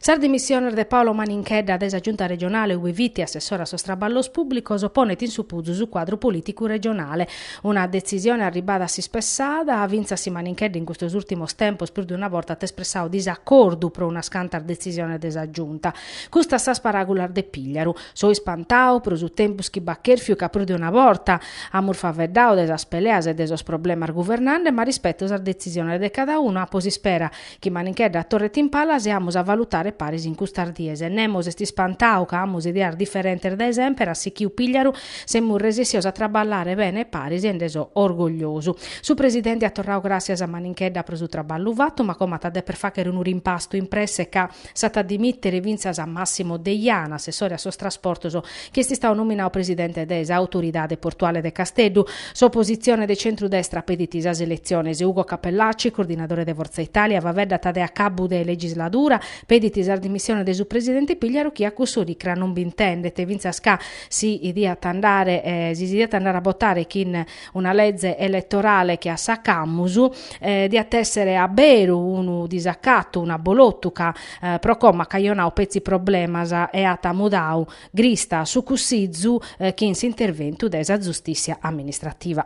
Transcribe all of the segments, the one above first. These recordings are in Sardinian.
Sas dimissiones de Paolo Maninchedda dae sa Giunta regionale ue fit assessore a sos traballos pùblicos ponet in supuzu su cuadru polìticu regionale. Una detzisione arribada a s'ispessada, fintzas si Maninchedda in custos ùrtimos tempos prus de una borta at espressadu disacordu pro unas cantas detzisiones de sa Giunta. Custas sas paràgulas de Pigliaru. So ispantadu pro su tempus chi b'at chèrfiu ca prus de una borta amus faeddadu de sas peleas e de sos problemas guvernande, ma rispeto sas detzisiones de cada unu, apo s'ispera Chi Maninchedda a torret in palas e amus a valutare paris in custas dies. Nemos est ispantadu ca amus ideas diferentes dae semper, at sichiu Pigliaru, semus resessios a traballare bene paris e nde so orgogliosu. Su Presidente at torradu gràssias a Maninchedda pro su traballu fatu, ma como at a deper fagher unu rimpastu in presse ca, s'at a dimìtere fintzas Massimo Deiana, assessore a sos trasportos, chi est istadu nominadu presidente de sa Autoridade Portuale de Casteddu. S'opositzione de centru-destra pedit sas eletziones. Ugo Cappellacci, coordinadore de Fortza Italia, faeddat de acabbu de legisladura, pedit sas dimissiones de su presidente Pigliaru chi a cuss'oricra non bi intendet, fintzas ca si diat, si si diat andare a botare chin una leze eletorale che a sa ch'amus diat èssere a beru unu disacatu, un'abolotu ca pro como at cajonadu petzi problemas e at mudadu grista a su Cussizu chin s'interventu de sa Zustìssia Amministrativa.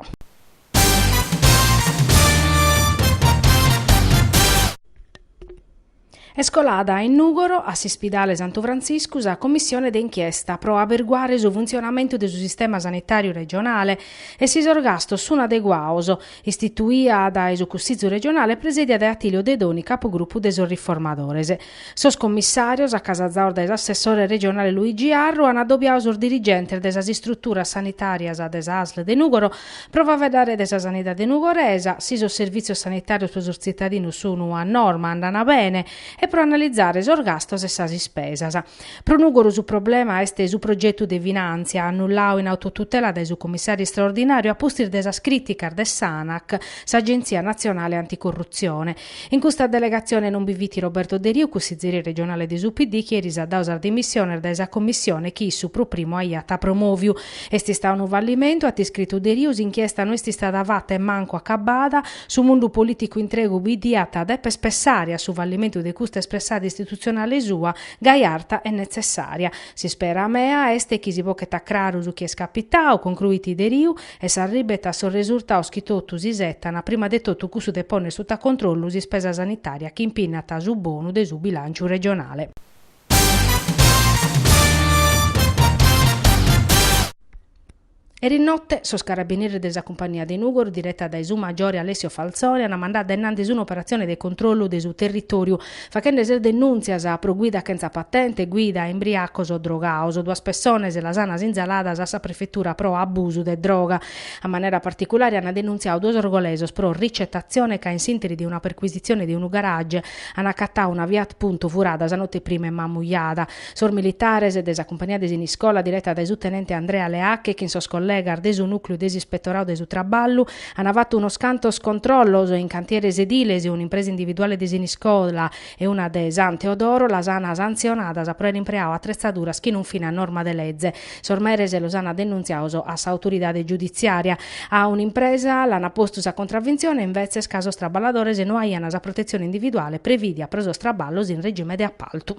Est colada in Nùgoro, a s'Ispidale Santu Frantziscu, sa commissione de inchiesta pro aberguare su funtzionamentu de su sistema sanitàriu regionale e si sos gastos sun adeguados, istituida dae su Cussìtziu regionale e presèdia dae Attilio Dedoni, capugrupu de sos Riformadores. Sos commissàrios, acasazados dae s'assessore regionale Luigi Arru, an adobiadu sos dirigentes de sas istruturas sanitàrias de sa asl de Nùgoro Pro faeddare de sa sanidade nugoresa, si sos servìtzios sanitàrios pro sos tzitadinos sunu a norma, andana bene, e pro analizare sos gastos e sas ispesas. Pro Nùgoro su problema est su progetu de finàntzia, annulladu in autotutela dae su Commissàriu istraordinàriu a pustis de sas crìticas de s'Anac, s'Agentzia natzionale anticorrutzione, In custa delegatzione non bi fit Roberto Deriu, cussizeri regionale de su PD, chi eris at dadu sas dimissiones dae sa commissione chi issu pro primu aiat promòviu. Est istadu unu fallimentu, at iscritu Deriu, s'inchiesta no est istada fata e mancu acabada, su mundu polìticu intregu bi diat dèper pessare a su fallimentu de custa espressada istitutzionale sua, gai arta e netzessària. S'ispera mea est chi si boghet a craru su chi est capitadu, concruit Deriu, e s'arribet a sos resurtados chi totu s'isetan, prima de totu cussu de pònnere suta controllu s'ispesa sanitària chi impinnat su bonu de su bilànciu regionale. Eris note sos carabinieris de sa cumpagnia de Nùgoro, direta dae su maggiore Alessio Falzone, ant mandadu a innantis un'operatzione de controllu de su territòriu, Fachende sas denùntzias pro guida chentza patente, guida e imbriacos o drogados, duas pessones las an sinzaladas a sa prefetura pro abusu de droga. A manera particulare an denuntziadu duos orgolesos pro ricetatzione ca in s'interi de una perquisitzione de unu garage an acatadu una Fiat Punto furada sa note prima in Mamujada. Sos militares de sa cumpagnia de Siniscola, direta dae su tenente Andrea Leacche chin sos collegas de su nùcleu de s'ispettoradu de su traballu, Ana fatu unos cantos controllos in cantieres ediles, un'impresa individuale de Siniscola e una de San Teodoro, las ana santzionadas pro aer impreadu atretzaduras chi non fin a norma de leze. Sos meres los ana denuntziados a s'autoridade giuditziaria. A un'impresa l'ana postu sa contravintzione invetzes ca sos traballadores no aiana sa protetzione individuale previdia pro sos traballos in regime de appaltu.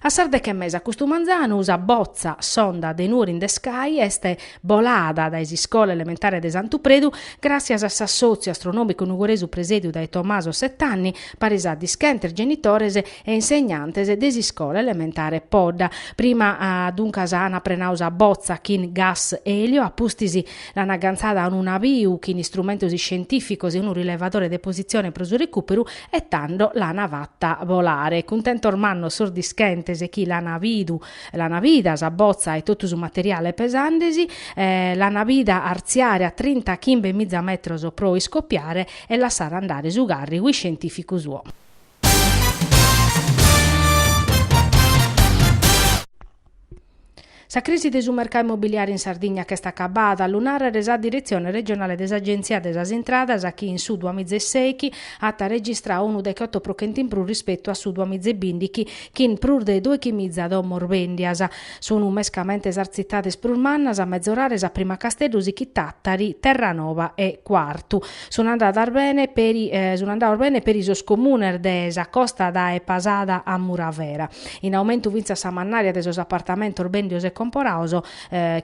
A sas deche e mesa custu manzanu sa botza sonda de Nuoro in the Sky est bolada dae s'iscola elementare de Santu Predu gràssias a s'assòtziu astronòmicu nugoresu presèdiu dae Tommaso Settanni, paris a dischentes genitores e insegnantes de s'iscola elementare Podda. Prima duncas ana prenadu sa botza chin gas elio, a pustis l'an agantzada a unu naviu chin istrumentos iscientìficos e unu rilevadore de positzione pro su recùperu, E tando l'ana fatta bolare. Cuntentos mannos sos dischentes chi l'ana bidu, l'ana bida sa botza e totu su materiale pesandesi, l'ana bida artziare a trinta chimbe miza metros pro iscopiare e lassare andare su carrigu iscientificu suo. Sa crisi de su mercau immobiliare in Sardigna ch'est acabada, a lu nàrrere est sa diretzione regionale de s'Agèntzia de sas Intradas chi in su duamizeseichi at registrau unu dechoto pro chent'in prus rispetu a su duamizebìndighi chin prus de dòichi miza domos bèndias. Sun mescamente sas tzitades prus mannas a mezorare, a prima Casteddu, sichit Tàtari, Terranova e Quartu. Sun andadas bene peri sun andados bene peri sos comunes de sa costa dae Pasada a Muravera. in aumentu fintzas sa mannària de sos apartamentos bèndidos e comporados,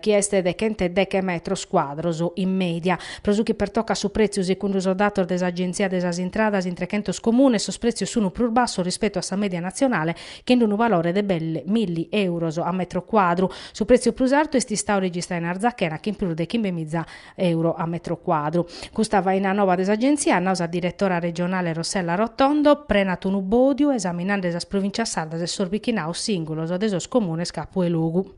chi est de chent'e deghe metros cuadros in mèdia. Pro su chi pertocat su prètziu, segundu sos datos de s'Agenzia de sas Intradas, in trechentos comunes sos prètzios sun prus bassos rispetu a sa mèdia natzionale, chin d'unu valore de belle milli èuros a metro cuadru. Su prètziu prus artu est istadu registradu in Arzachena chin prus de chimbe miza euro a metro cuadru. Custa faina noba de s'Agenzia at nau sa diretora regionale Rossella Rotondo, prenat unu bòdiu esaminende sas provìncias sardas e sos bichinaus sìngulos de sos comunes capu 'e logu.